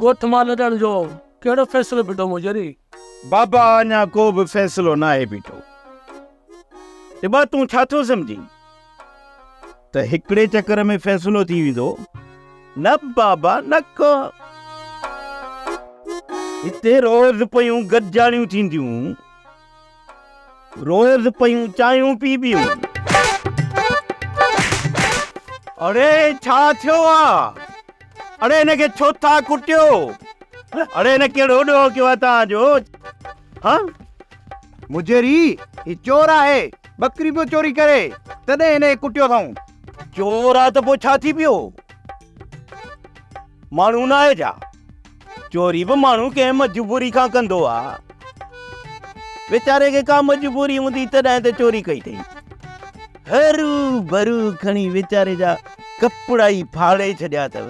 ڳوٺ مان لڏڻ جو ڪهڙو فيصلو ٻيٺو موجري؟ بابا اڃا ڪو به فيصلو ناهي ٻيٺو. ٽٻا تون ڇا ٿو سمجهين ته هڪڙي چڪر ۾ فيصلو ٿي ويندو؟ نه بابا نه ڪو. هتي روز پيون گڏجاڻيون ٿينديون. روئيس پيون چانهيون پي بيون. اڙي ڇا ٿيو آ. اڙي هن کي ڇو ٿا ڪٽيو. اڙي هن ڪهڙو ڏوهه ڪيو آ توهان جو. ها مجري هي چور آهي ٻڪري پيو چوري ڪري تڏهن هن کي ڪٽيو اٿائون. چور آ ته پوء ڇا ٿي پيو ماڻهو ناهي ڇا. چوري به ماڻهو ڪنهن مجبوري کان ڪندو آ. ويچاري کي ڪا مجبوري هوندي تڏهن ته چوري ڪئي اٿئي. هرو برو کڻي ويچاري جا ڪپڙا ئي ڦاڙي ڇڏيا اٿئو.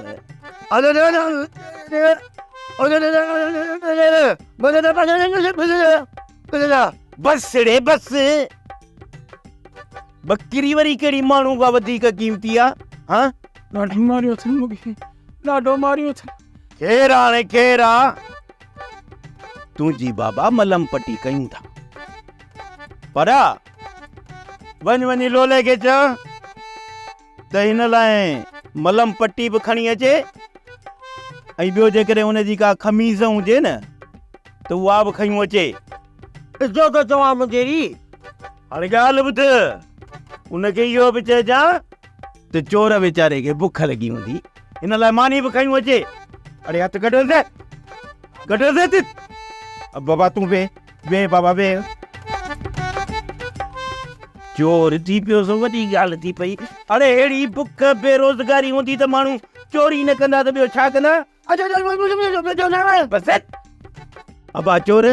بسڙي بس! ٻڪري وري ڪهڙي ماڻهو کان وڌيڪ قيمتي آ؟ ها! ڏاڍو ماريو اٿن مون کي، ڏاڍو ماريو اٿن. ڪير آ هاڻي ڪير آ؟ تنهنجي بابا ملم پٽي ڪيون ٿا. پرا، وڃ وڃي لولي کي چئه ته هن لاء ملم پٽي به کڻي اچي ۽ ٻيو جيڪڏهن ان جي ڪا خميز هجي نه ته اها به کيون اچي. ڏسجو ٿو چوان منجهيري. هاڻي ڳالهه ٻڌ، ان کي اهو به چئجان. ته چور ويچاري کي بک لڳي هوندي ان لاء ماني به کيون اچي اڙي هٿ گڏ هلندي گڏ هلندي بابا تون وي وي بابا وي چور ٿي پيو سو وڏي ڳالهه ٿي پئي اڙي اهڙي بک بيروزگاري هوندي ته ماڻهو چوري نه ڪندا ته ٻيو ڇا ڪندا ابا چور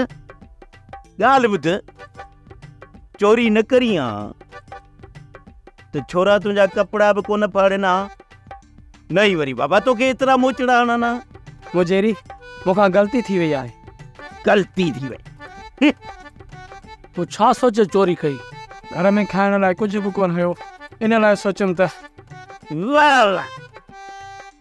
ڳالهه ٻڌ چوري نه ڪرين ها ته ڇورا تنهنجا ڪپڙا به ڪونه ڦاڙين ها نه ئي وري بابا توکي ايترا موچڙا هڻن ها مجيري مون کان غلطي ٿي وئي آهي غلطي ٿي وئي تون ڇا سوچي چوري ڪئي گهر ۾ کائڻ لاء ڪجهه به ڪونه هيو ان لاء سوچيم ته واهه واهه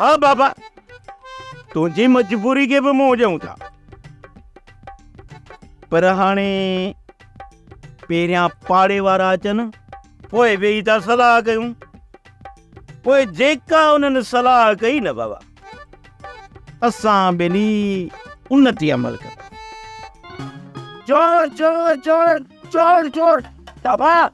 ها بابا تنهنجي مجبوري کي به موجون ٿا پر هاڻي پهريان پاڙي وارا اچن پوء ويهي ٿا صلاح ڪيون پوء جيڪا انهن صلاح ڪئي نه بابا اسان ٻنهي ان تي عمل ڪنداسين چور چور چور چور چور بابا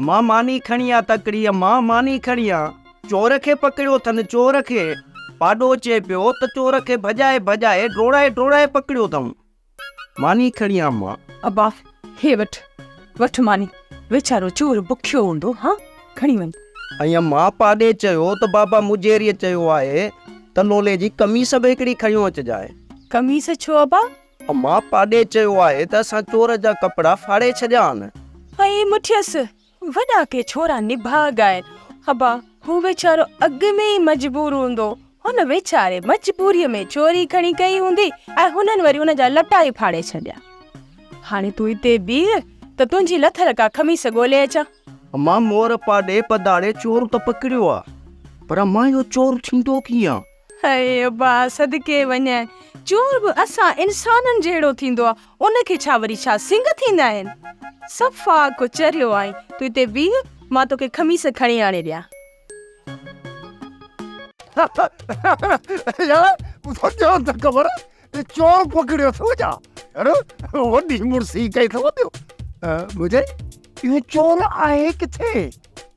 امان ماني کڻي آ تڪڙي امان ماني کڻي آ چور کي پڪڙيو اٿن چور کي پاڏو چي پيو ته چور کي ڀڄائي ڀڄائي ڊوڙائي ڊوڙائي پڪڙيو اٿم ماني کڻي آ امان ابا هي وٺ وٺ ماني ويچارو چور بکيو هوندو ها کڻي وڃ ۽ امان پاڏي چيو ته بابا مجيريء چيو آهي ته لولي جي قميص به هڪڙي کڻيو اچجانء. قميص ڇو ابا؟ امان پاڏي چيو آهي ته اسان چور جا ڪپڙا ڦاڙي ڇڏيا آهن. ائين مٺيس وڏا ڪي ڇورا نڀاڳ آهن. ابا هو ويچارو اڳ ۾ ئي مجبور هوندو. هن ويچاري مجبوريء ۾ چوري کڻي ڪئي هوندي ۽ هنن وري ان جا لٽا ئي ڦاڙي ڇڏيا. هاڻي تون هتي بيهه ته تنهنجي لٿل ڪا خميس ڳولي اچان. امان مور پاڏي پڌاڙي چور ته پڪڙيو آهي پر امان اهو چور ٿيندو ڪيئن؟ هيء ابا صدقي وڃ، چور به اسان انسانن جهڙو ٿيندو آ، ان کي ڇا وري ڇا سنگ ٿيندا آهن؟ صفا ڪو چريو آهين، تون هتي بيهه، مان توکي خميس کڻي آڻي ڏيان. يار تو ڄاڻ ته خبر ته چور پڪڙيو اٿئو ڇا؟ يار وڏي مڙسي ڪئي اٿئو ٻيو ٻڌ اهو چور آهي ڪٿي؟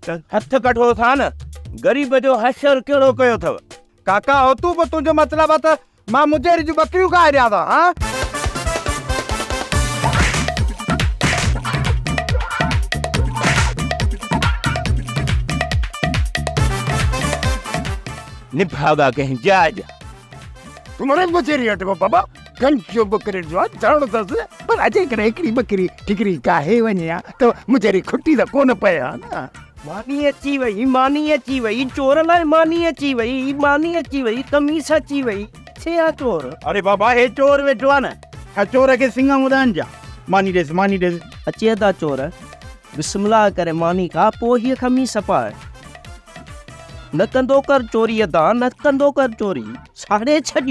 ته هٿ ڪڍو ٿا نه، غريب جو حشر ڪهڙو ڪيو اٿو. ڪاڪا او تون به تنهنجو مطلب آ ته مان مجيري جون ٻڪريون کائي ڏيان ٿا ها. نڀاڳا ڪنهن جاء جا. تون مري مجيري اٽڪو بابا. گنج جو ٻڪرين جو ڌڻو ٿس، پر اڄ ڪڏهن هڪڙي ٻڪري ٺڪري ڪاهي وڃي ها ته مجري کٽي ته ڪونه پئي ها نه. ماني اچي وئي، ماني اچي وئي، چور لاء ماني اچي وئي، ماني اچي وئي، قميص اچي وئي، ڇي آ چور. اري بابا هي چور ويٺو آ نه، ڇا چور کي سڱا هوندا آهن ڇا، ماني ڏيس، ماني ڏيس. اچي ادا چور، بسم الله ڪري ماني کا، پوء هيء قميص پاء. نه ڪندو ڪر چوري ادا، نه ڪندو ڪر چوري، ساڙي ڇڏ.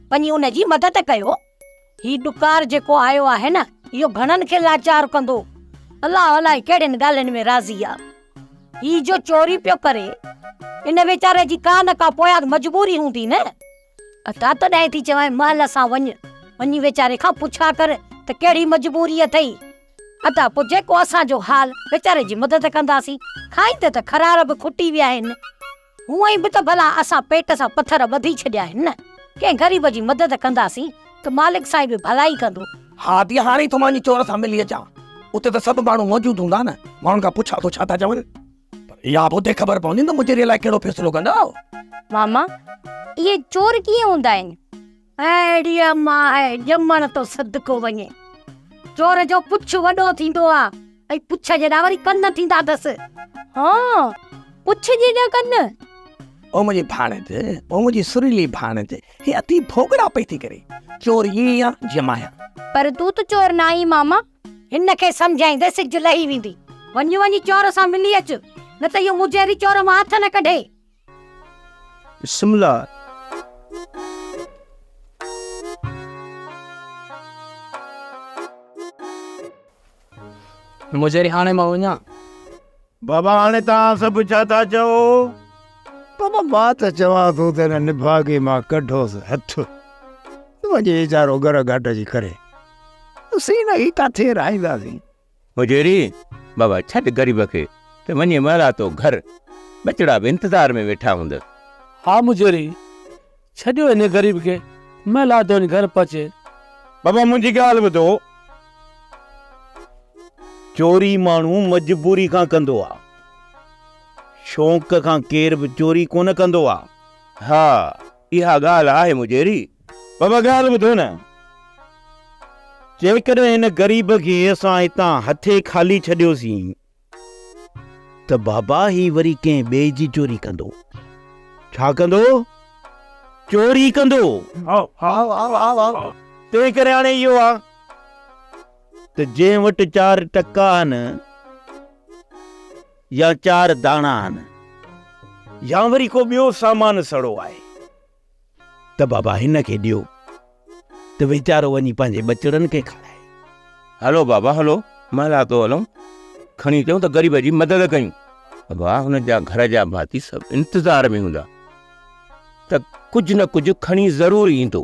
وڃي ان جي مدد ڪيو. هي ڏڪار جيڪو آيو آهي نه اهو گهڻن کي لاچار ڪندو. الله الائي ڪهڙين ڳالهين ۾ راضي آ. هي جو چوري پيو ڪري ان ويچاري جي ڪا نه ڪا پويان مجبوري هوندي نه. عطا تڏهن ٿي چوانء مهل سان وڃ وڃي ويچاري کان پڇا ڪر ته ڪهڙي مجبوري اٿئي. عطا پوء جيڪو اسان جو حال ويچاري جي مدد ڪنداسين. کائيندي ته خرار به کٽي ويا آهن. هونئن به ته ڀلا اسان پيٽ سان پٿر ٻڌي ڇڏيا آهن نه، ڪنهن غريب جي مدد ڪنداسين ته مالڪ سائين به ڀلائي ڪندو. ها ڌيء هاڻي ئي ٿو مانجهي چور سان ملي اچان، اتي ته سڀ ماڻهو موجود هوندا نه، ماڻهن کان پڇان ٿو ڇا ٿا چون، پر اها به اتي خبر پوندي ته مجريء لاء ڪهڙو فيصلو ڪندا. ماما اهي چور ڪيئن هوندا آهن؟ اهڙيء مان اهي ڄمڻ تو صدقو وڃي. چور جو پڇ وڏو ٿيندو آ ۽ پڇ جيڏا وري ڪن ٿيندا اٿس. ها، پڇ جيڏا ڪن. او منهنجي ڀاڻيج، او منهنجي سريلي ڀاڻيج، هي اٿي ڀوڳڙا پئي ٿي ڪري. چور ائين ئي آ جيئن مان آهيان. پر تون ته چور ناهين ماما. هن کي سمجهائين ته سج لهي ويندي. وڃ وڃي چور سان ملي اچ، نه ته اهو مجهري چور مان هٿ نه ڪڍي. بسم الله. مجهري هاڻي مان وڃان. بابا هاڻي توهان سڀ ڇا ٿا چئو؟ بابا مان ته چوان ٿو ته هن نڀاڳي مان ڪڍوس هٿ ته وڃي ويچارو گر گهٽ جي ڪري اسين هن کي ڪاٿي رهائينداسين. هجيري، بابا ڇڏ غريب کي ته وڃي مهلاتو گهر، ٻچڙا به انتظار ۾ ويٺا هوندس. ها مجيري، ڇڏيو هن غريب کي، مهلاتو وڃي گهر پهچي. بابا منهنجي ڳالهه ٻڌو، چوري ماڻهو مجبوري کان ڪندو آ، شوق کان ڪير به چوري ڪونه ڪندو آ. ها! اها ڳالهه آهي مجيري، پر اها ڳالهه ٻڌو نه، جيڪڏهن هن غريب کي اسان هتان هٿي خالي ڇڏيوسين ته بابا هي وري ڪنهن ٻئي جي چوري ڪندو. ڇا ڪندو؟ چوري ڪندو. تنهن ڪري هاڻي اهو آ ته جنهن وٽ چار ٽڪا آهن، يا چار داڻا آهن يا وري ڪو ٻيو سامان سڙو آهي ته بابا هن کي ڏيو ته ويچارو وڃي پنهنجي ٻچڙن کي کارائي. هلو بابا هلو مهلا تو هلون کڻي اچون ته غريب جي مدد ڪيون. بابا هن جا گهر جا ڀاتي سڀ انتظار ۾ هوندا ته ڪجهه نه ڪجهه کڻي ضرور ايندو.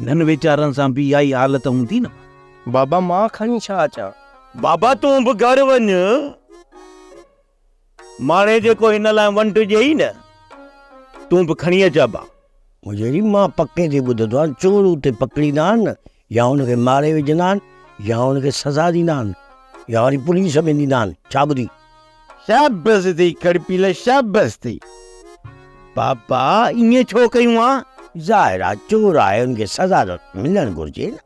انهن ويچارن سان به اها ئي حالت هوندي نه. بابا مان کڻي ڇا اچان؟ بابا تون به گهر وڃ. ماڻهي جيڪو هن لاء ونڊ ڏيئي نه، تون به کڻي اچ ابا. مجهري، مان پڪي تي ٻڌندو آهيان، چور اتي پڪڙيندا آهن يا هن کي ماري وجهندا آهن يا هن کي سزا ڏيندا آهن يا وري پوليس ۾ ڏيندا آهن. ڇا ٻڌي؟ شابس ٿي ڪڙپيل شابس ٿي. پاپا ائين ڇو ڪيون ها؟ ظاهر آ چور آهي ان کي سزا ته ملڻ گهرجي نه.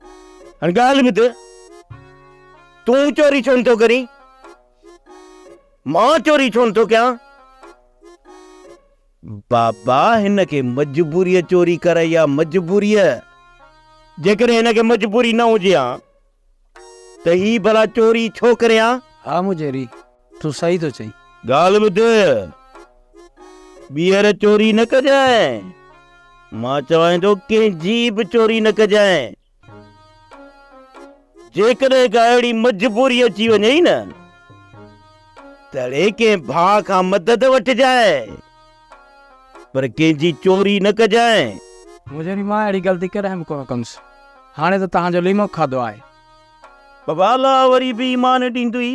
هاڻي ڳالهه ٻڌ تون چوري ڇو نه ٿو ڪرين؟ مان چوري ڇو نه ٿو ڪيان؟ بابا هن کي مجبوريء چوري ڪرائي آ مجبوريء جيڪڏهن هن کي مجبوري نه هجي ها ته هي ڀلا چوري ڇو ڪري ها؟ ها مجيري، تون صحيح ٿو چئين. ڳالهه ٻڌ، ٻيهر چوري نه ڪجانء. مان چوانء ٿو ڪنهن جي به چوري نه ڪجانء. جيڪڏهن ڪا اهڙي مجبوري اچي وڃئي نه، تهڙي ڪنهن ڀاء کان مدد وٺجانء. پر ڪنهن جي چوري نه ڪجانء. مون جهڙي مان اهڙي غلطي ڪڏهن به ڪونه ڪندس. هاڻي ته توهان جو ليمو کاڌو آهي. ببالا وري به ايمان ڏيندوئي.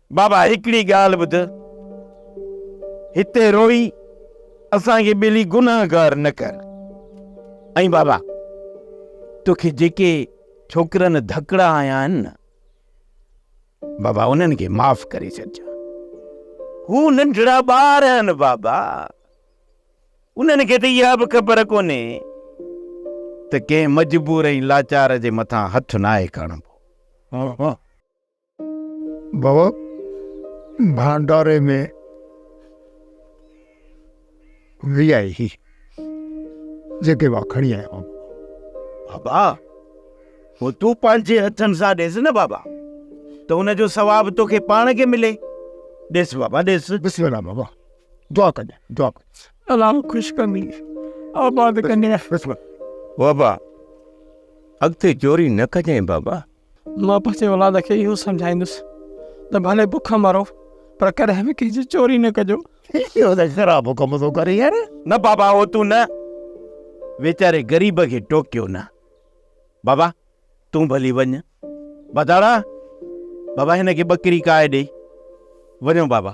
بابا هڪڙي ڳالهه ٻڌ، هتي روئي اسان کي ٻيلي گنهگار نه ڪر. ۽ بابا توکي جيڪي ڇوڪرن ڌڪڙا هنيا آهن نه بابا انهن کي معاف ڪري ڇڏجا. هو ننڍڙا ٻار آهن بابا، انهن کي ته اها به خبر ڪونهي ته ڪنهن مجبور ۽ لاچار جي مٿان هٿ ناهي کڻبو. بابا ڀانڊاري ۾ وي آء هي جيڪي مان کڻي آيو آهيان بابا هو تون پنهنجي هٿن سان ڏيس نه بابا ته ان جو ثواب توکي پاڻ کي ملي ڏيس بابا ڏيس بسم الله بابا دعا ڪجي دعا الله خوش ڪندي آباد ڪندي بابا اڳتي چوري نه ڪجين بابا مان پنهنجي اولاد کي اهو سمجهائيندس ته ڀلي بک مرو پر ڪڏهن به ڪنهن جي چوري نه ڪجو. اهو ته خراب حڪم ٿو ڪري يار. نه بابا اهو تون نه ويچاري غريب کي ٽوڪيو نه. بابا تون ڀلي وڃ. بداڙا بابا هن کي ٻڪري ڪاهي ڏي. وڃو بابا.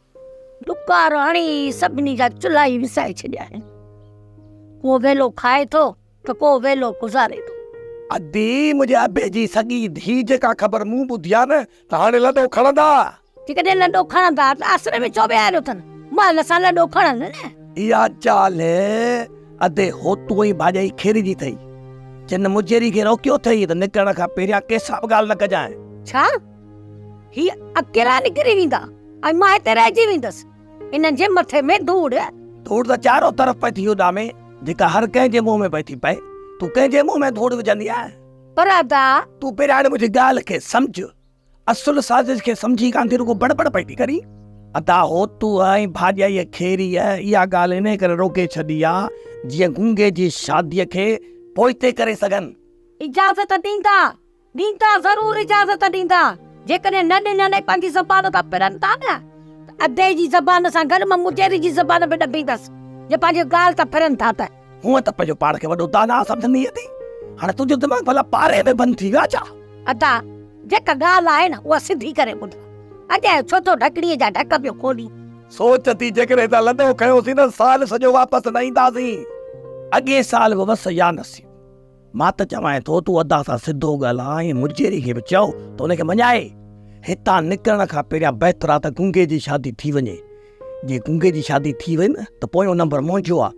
ڏڪار هڻي سڀني جا چلها ئي وسائي ڇڏيا آهن. ڪو ويلو کائي ٿو ته ڪو ويلو گذاري ٿو. ادي منهنجي ابي جي سڳي ڌيء جيڪا خبر مون ٻڌي آهي نه ته هاڻي لڏو کڻندا. جيڪڏهن لڏو کڻندا ته آسري ۾ ڇو ويهاريو اٿن؟ مال سان لڏو کڻن نه. اها چال ادي هوتون ئي ڀاڄائي کيري جي اٿئي. جن مجيري کي روڪيو اٿئي ته نڪرڻ کان پهريان ڪنهن سان به ڳالهه نه ڪجانء. ڇا؟ هي اڪيلا نڪري ويندا ۽ مان هتي رهجي ويندس. انهن جي مٿي ۾ ڌوڙ. ڌوڙ ته چارو طرف پئي ٿي اڏامي، جيڪا هر ڪنهن جي منهن ۾ پئي ٿي پئي. تون ڪنهن جي منهن ۾ ڌوڙ وجهندي آهين؟ پر ادا! تون پهريائڻ منهنجي ڳالهه کي سمجهه. اصل سازش کي سمجهي ڪانه ٿي رڳو بڙ بڙ پئي ٿي ڪرين. ادا! هو تون ۽ ڀاڄائيء کيريء اها ڳالهه انهيء ڪري روڪي ڇڏي آ، جيئن گونگي جي شاديء کي پوئتي ڪري سگهن. اجازت ڏيندا. ڏيندا ضرور اجازت ڏيندا، جيڪڏهن نه ڏنن ۽ پنهنجي زبان تان ڦرن ٿا نه ته ادي جي زبان سان گڏ مان مجيري جي زبان به ڏبيندس، جي پنهنجي ڳالهه تان ڦرن ٿا ته. هونء ته پنهنجو پاڻ کي وڏو داناء سمجهندينء ٿي، هاڻي تنهنجو دماغ ڀلا پاري ۾ بند ٿي ويو آهي ڇا؟ ادا، جيڪا ڳالهه آهي نه اها سڌي ڪري ٻڌ، اڄ آء ڇو ٿو ڍڪڻيء جا ڍڪ پيو کولين؟ سوچ ٿي جيڪڏهن هتان لڏو کنيوسين نه سال سڄو واپس نه اينداسين. اڳئين سال به وس يا نصيب. مان ته چوانء ٿو تون ادا سان سڌو ڳالهاء ۽ مجيري کي به چئو ته ان کي مڃائي. هتان نڪرڻ کان پهريان بهتر آ ته گونگي جي شادي ٿي وڃي. جي گونگي جي شادي ٿي وئي نه ته پويون نمبر منهنجو آ.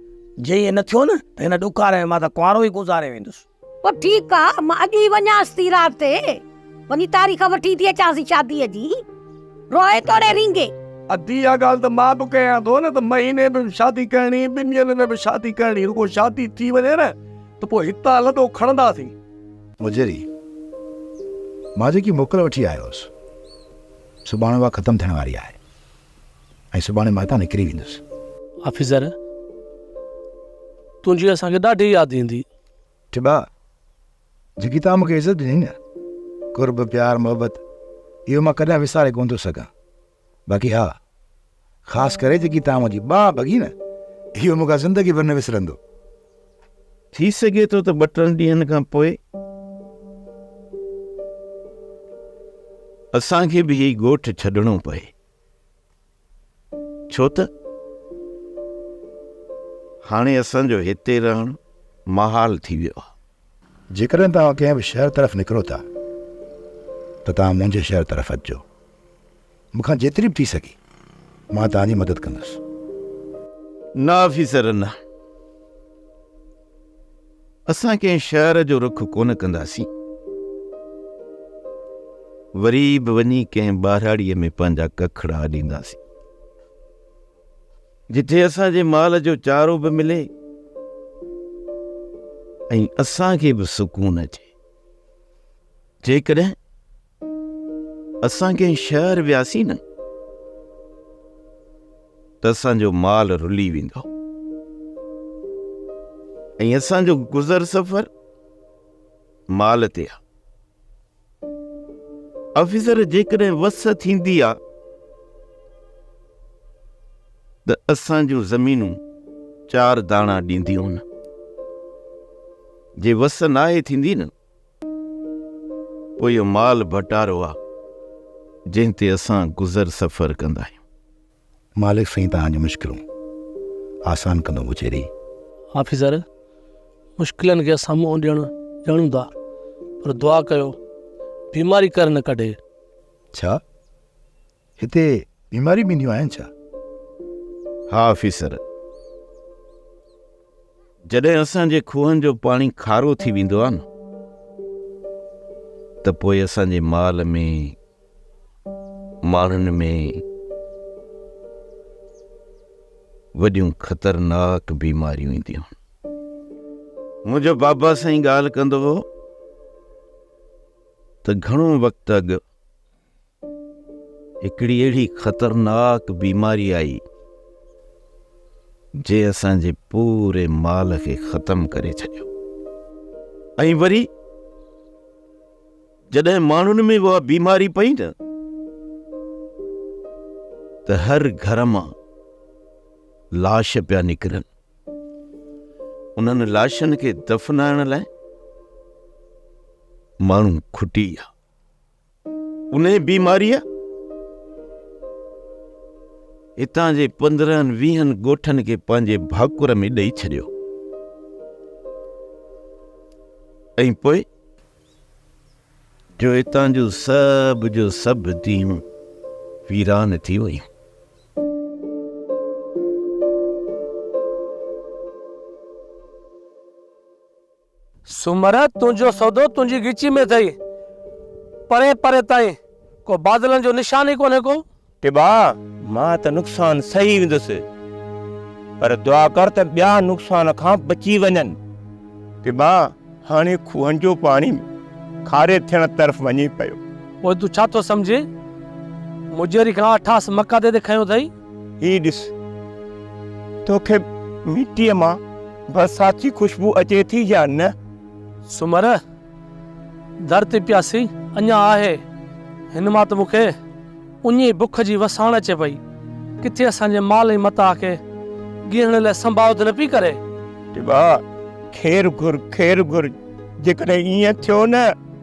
جي ائين نه ٿيو نه ته هن ڏوڪاري ۾ مان ته ڪنوارو ئي گذاري ويندس. پر ٺيڪ آ مان اڄ ئي وڃانس ٿي رات تي. وڃي تاريخ وٺي ٿي اچانسين شاديء جي، روئي توڙي رينگي. ادي اها ڳالهه ته مان به ڪيان ٿو نه ته مهيني ۾ به شادي ڪرڻي، ٻن ڏينهن ۾ به شادي ڪرڻي، رڳو شادي ٿي وڃي نه ته پوء هتان لڏو کڻنداسين. مجري، مان جيڪي موڪل وٺي آيو هوس، سو ٻاڻ اها ختم ٿيڻ واري آهي ۽ سڀاڻي مان هتان نڪري ويندس. آفيسر، تنهنجي اسان کي ڏاڍي ياد ايندي. ٽٻا، جيڪي توهان مون کي عزت ڏني نه، قرب، پيار، محبت، اهو مان ڪڏهن وساري ڪونه ٿو سگهان. باقي ها، خاص ڪري جيڪي توهان منهنجي ٻانهن ڀڳي نه، اهو مون کان زندگي ڀر نه وسرندو. ٿي سگهي ٿو ته ٻه ٽن ڏينهن کان پوء اسان کي به هي ڳوٺ ڇڏڻو پئي. ڇو ته هاڻي اسان جو هتي رهڻ محال ٿي ويو آهي. جيڪڏهن توهان ڪنهن به شهر طرف نڪرو ٿا ته توهان منهنجي شهر طرف اچجو. مون کان جيتري به ٿي سگهي مان توهان جي مدد ڪندس. نه آفيسر نه. اسان ڪنهن شهر جو رخ ڪونه ڪنداسين، وري به وڃي ڪنهن ٻهراڙيء ۾ پنهنجا ڪکڙا اڏينداسين، جتي اسان جي مال جو چارو به ملي ۽ اسان کي به سڪون اچي. جيڪڏهن اسان ڪنهن شهر وياسين نه ته اسان جو مال رلي ويندو ۽ اسان جو گذر سفر مال تي آ آفيسر جيڪڏهن وس ٿيندي آ ته اسان جون زمينون چار داڻا ڏينديون نه جي وس ناهي ٿيندي نه پوء اهو مال ڀٽارو آ، جنهن تي اسان گذر سفر ڪندا آهيون. مالڪ سائين توهان جون مشڪلون آسان ڪندو موچيري. آفيسر، مشڪلن کي اسان منهن ڏيڻ ڄاڻون ٿا، پر دعا ڪيو بيماري ڪر نه ڪڍي. ڇا؟ هتي بيماريون بينديون آهن ڇا؟ ها آفيسر، جڏهن اسان جي کوهن جو پاڻي کارو ٿي ويندو آهي نه ته پوء اسان جي مال ۾ ماڻهن ۾ وڏيون خطرناڪ بيماريون اينديون آهن. منهنجو بابا سائين ڳالهه ڪندو هو ته گهڻو وقت اڳ هڪڙي اهڙي خطرناڪ بيماري آئي جنهن اسان جي پوري مال کي ختم ڪري ڇڏيو ۽ وري جڏهن ماڻهن ۾ اها بيماري پئي نه ته هر گهر مان لاش پيا نڪرن انهن لاشن کي دفنائڻ لاء ماڻهو کٽي ويا انهيء بيماريء هتان جي پندرهن ويهن ڳوٺن کي پنهنجي ڀاڪر ۾ ڏئي ڇڏيو ۽ پوء جو هتان جون سڀ جو سڀ ديون ويران ٿي ويون سومر! تنهنجو سودو تنهنجي ڳچي ۾ اٿئي، پرين پرين تائين ڪو بادلن جو نشان ئي ڪونهي ڪو. ٽٻا! مان ته نقصان سهي ويندس، پر دعا ڪر ته ٻيا نقصان کان بچي وڃن. ٽٻا! هاڻي کوهن جو پاڻي به کاري ٿيڻ طرف وڃي پيو. پوء تون ڇا ٿو سمجهين؟ مجيري کان اٺاس مقادي تي کنيو اٿئي. هي ڏس، توکي مٽيء مان برسات جي خوشبو اچي ٿي يا نه؟ سومر، در تي پياسي اڃا آهي، هن مان ته مون کي اڃ ئي بک جي وساڻ اچي پئي. ڪٿي اسان جي مال ۽ متاع کي ڳيهڻ لاء سنڀاء ته نه پئي ڪري؟ ٽٻا، خير گهر، خير گهر، جيڪڏهن ائين ٿيو نه.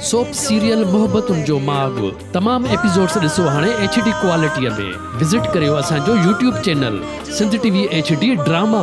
سوپ سيريل محبتن جو ماڳ تمام ايپيسوڊس ڏسو هاڻي ايڇ ڊي ڪوالٽيء ۾ وزٽ ڪريو اسان جو YouTube channel Sindh T V H D drama.